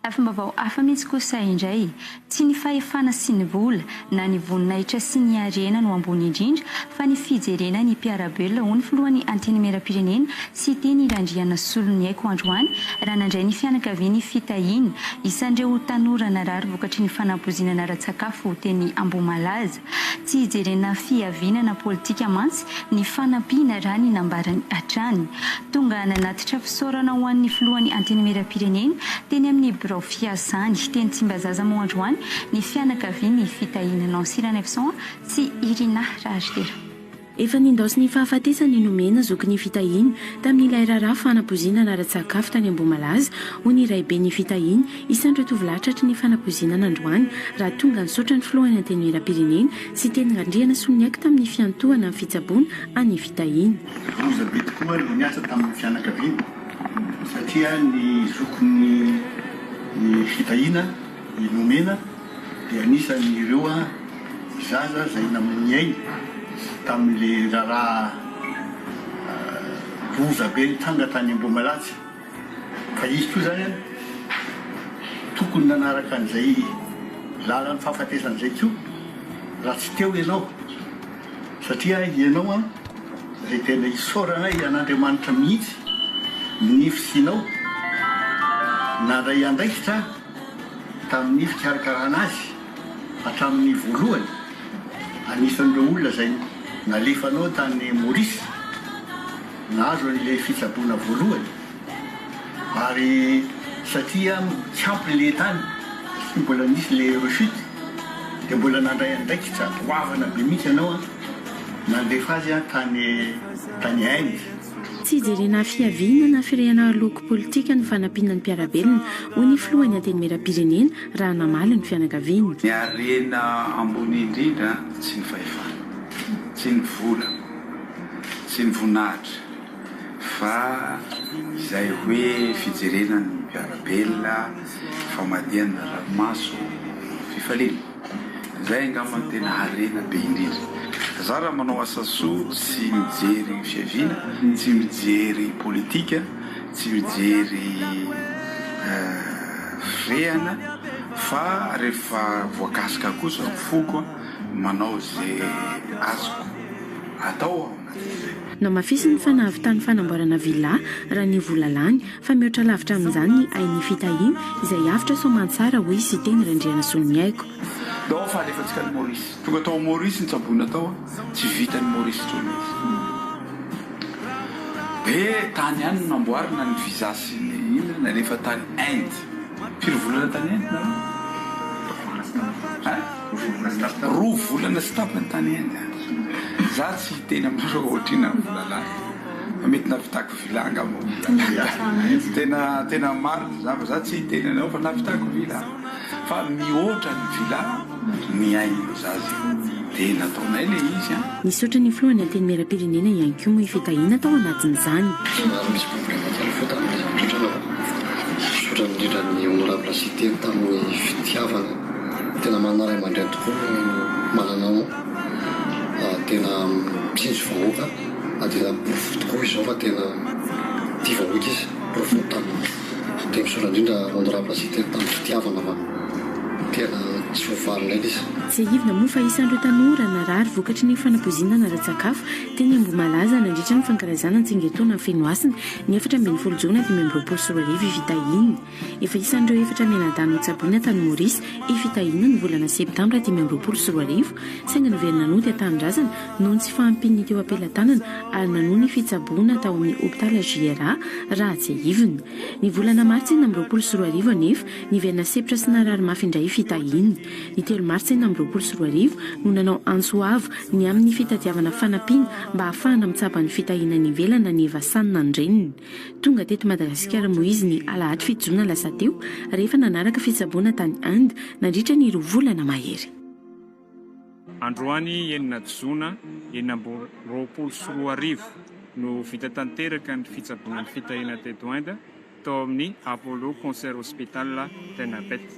Lafim-baovao hafa mihitsy kosa indray. Tsy ny fahefana sy ny vola, na ny voninahitra sy ny harena no ambony indrindra, fa ny fijerena ny mpiara-belona, hoy ny filohan'ny Antenimierampirenena, Siteny Randrianasoloniaiko androany, raha nandray ny fianakaviany fitahiana isan'ireo tanora narary vokatry ny fanampoizinana ara-tsakafo teny Ambohimalaza. Tsy hijerena fihavinana politika mantsy ny fanampiana raha ny nambarany hatrany. Tonga nanatitra fisaorana ho an'ny filohan'ny Antenimierampirenena teny amin'ny birao fiasany teny Tsimbazaza moa androany ny fianakavian'ny fitahiana Nancy Ranaivoson sy Irina Raharihera. Efa nindaosin'ny ny fahafatesany nomena zoky ny fitahiany tamin'ilay raharaha fanapoizinana ara-tsakafo tany Ambohimalaza, hoy ny raibe ny fitahiany, Isandra tovolahy tratry ny fanapoizinana androany, raha tonga nisaotra ny filoha ny Antenimierampirenena sy teny Randrianasoniaiko tamin'ny fiantohana ny fitsaboana an'ny fitahiany. Loza be tokoa no niasa tamin'ny fianakaviany satria ny zokin'ny fitahiana, I Nomena dia anisan' ireo zaza izay namoniainy tamin' ilay raharaha loza be nitranga tany Ambohimalatsy, ka izy koa izany tokony nanaraka an'izay lalan' ny fahafatesana izay koa raha tsy teo ianao, satria ianao izay tena isaoranay an' Andriamanitra mihitsy ny fisianao, nandray andraikitra. Tamin'ny fikarakarana azy hatramin'ny voalohany, anisan'ireo olona izay nalefanao tany Maurice, nahazo an'ilay fitsaboana voalohany, ary satria tsy ampy ny lehin-tany satria mbola nisy ilay rechute, dia mbola nandray andraikitra goavana be mihitsy ianao nandefa azy tany Inde. Tsy ijerena fiaviana na firehana aloky politika ny fanampiana ny mpiara-belona, hoy ny filohan'ny Antenimierampirenena raha namaly ny fianakaviany. Ny harena ambony indrindra tsy ny fahefana, tsy ny vola, tsy ny voninahitra fa izay hoe fijerena ny mpiara-belona, famadihana ny ranomaso, fifaliana. Izay angamba no tena harena be indrindra. Za raha manao asa soa tsy mijery fiaviana, tsy mijery politika, tsy mijery fihehana fa rehefa voakasika kosa ny foko manao ze azoko atao aho. Namafisiny fa nahavitany fanamboarana villa raha ny vola lany, fa mihoatra lavitra amin'izany ny ain'ny fitahiana izay avotra soamantsara, hoy Siteny Randrianasoloniaiko. Dao ny fahalefantsika any Maurice. Tonga tao Maurice ny tsaboina tao a! Tsy vitan'i Maurice intsony izy. Be tany ihany no namboarina ny visa sy ny inona, nalefa tany Inde. Firy volana tany Inde nareo? Ein? Roa volana sy tapany tany Inde aho. Za tsy hiteny aminareo ohatr'inona ny vola lany fa mety nahavitako villa angamba ny vola lany. Tena tena marina za fa za tsy hiteny anareo fa nahavitako villa fa mihoatra ny villa ny ain'ny zaza dia nataonay ilay izy an. Nisaotra ny Filohan'ny Antenimierampirenena ihany koa moa i Fitahiana tao anatin'izany. Somary misy boboka kely fota amin'ilay zava-misaotra anaovako. Misaotra indrindra an'i Honorable Siteny tamin'ny fitiavana. Tena manana ray aman-dreny tokoa ny manana tena mitsinjo vahoaka ary tena porofo tokoa izao fa tena tia vahoaka izy. Porofo ny tamin'ny teny soa indrindra honorable sy teny tamin'ny fitiavana fa tena tsy voavalinay ilay izy. Tsiahivina moa fa isan'ireo tanora narary vokatry ny fanapoizinana ara-tsakafo teny Ambohimalaza nandritra ny fankalazana ny tsingerin-taona any Fenohasina ny efatra ambin'ny folo jona dimy amby roapolo sy roa arivo i Fitahiny. Efa isan'ireo efatra mianadahy notsaboina tany Maurice i Fitahiana ny volana septambra dimy amby roapolo sy roa arivo, saingy niverina nody an-tanindrazana noho ny tsy fahampian'ny teo am-pelatanana ary nanohy ny fitsaboana tao amin'ny hopitaly JRA raha tsiahivina. Ny volana martsa enina amby roapolo sy roa arivo anefa, niverina sepotra sy narary mafy indray i Fitahiana. Ny telo martsa enina amby roapolo sy roa arivo no nanao antso avo ny amin'ny fitadiavana fanampiana mba hahafahana mitsabo an'i Fitahiana any ivelany na ny Evasan na ny reniny. Tonga teto Madagasikara Moïse ny alahady fito jona lasa teo, rehefa nanaraka fitsaboana tany Inde nandritra ny roa volana mahery. Androany enina jona enina amby roapolo sy roa arivo no vita tanteraka ny fitsaboana ny fitahiana teto Inde, tao amin'ny Apollo Concert Hospital Ternabet.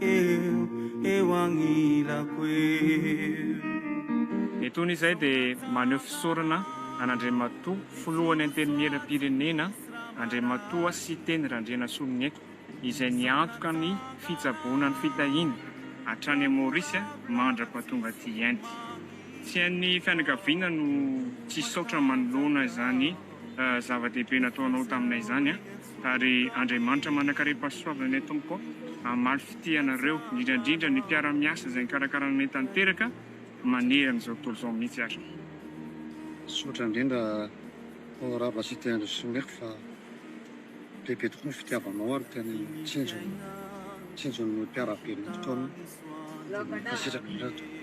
Eo, eo agnilako eo. Etoana izay dia maneho fisaorana an'Andriamatoa Filohan'ny Antenimieram-pirenena Andriamatoa Siteny Randrianasoloniaiko izay niantoka ny fitsaboana ny fitahiany hatrany Maurice mandra-pahatonga aty Inde. Tsy an'ny fianakaviana no tsy hisaotra manoloana izany zava-dehibe nataonao taminay izany an! ary Andriamanitra manan-karem-pahasoavana ny Tompoko hamaly fitia anareo, indrindra indrindra ny mpiara-miasa izay nikarakara anay tanteraka manerana izao tontolo izao mihitsy ary. Misaotra indrindra Ô Rava Siteny Rasomiako fa be be tokoa ny fitiavanao ary tena tsinjo tsinjo ny mpiara-belona eto aminy dia mankasitraka indrindra tompoko.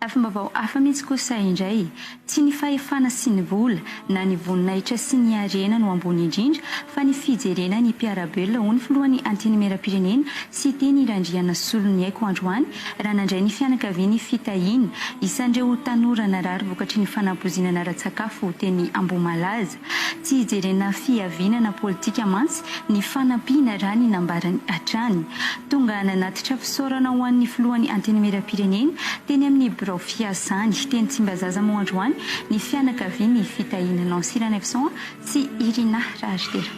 Lafim-baovao hafa mihitsy kosa indray, tsy ny fahefana sy ny vola, na ny voninahitra sy ny harena no ambony indrindra, fa ny fijerena ny mpiara-belona, hoy ny filohan'ny Antenimierampirenena, Siteny Randrianasoloniaiko androany, raha nandray ny fianakaviany fitahiana isan'ireo tanora narary vokatry ny fanampoizinana ara-tsakafo teny Ambohimalaza. Tsy hijerena fihavinana politika mantsy ny fanampiana raha ny nambarany hatrany. Tonga nanatitra fisaorana ho an'ny filohan'ny Antenimierampirenena teny amin'ny birao fiasany teny Tsimbazaza moa androany ny fianakavian'ny fitahiana Nancy Ranaivoson sy Irina Raharitera.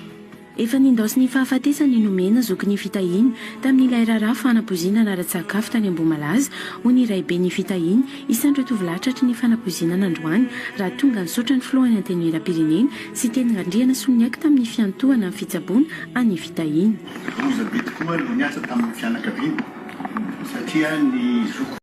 Efa nindaosin'ny fahafatesany nomena zokin'ny fitahiany tamin'ilay raharaha fanapoizinana ara-tsakafo tany Ambohimalaza, hoy ny raiben'ny fitahiany, Isandra tovolahy tratry ny fanapoizinana androany, raha tonga nisaotra ny filohan'ny Antenimierampirenena sy teny Randriana sy niaiky tamin'ny fiantohana ny fitsaboana an'ny fitahiany. Loza be tokoa no niasa tamin'ny fianakaviana satria ny zoky.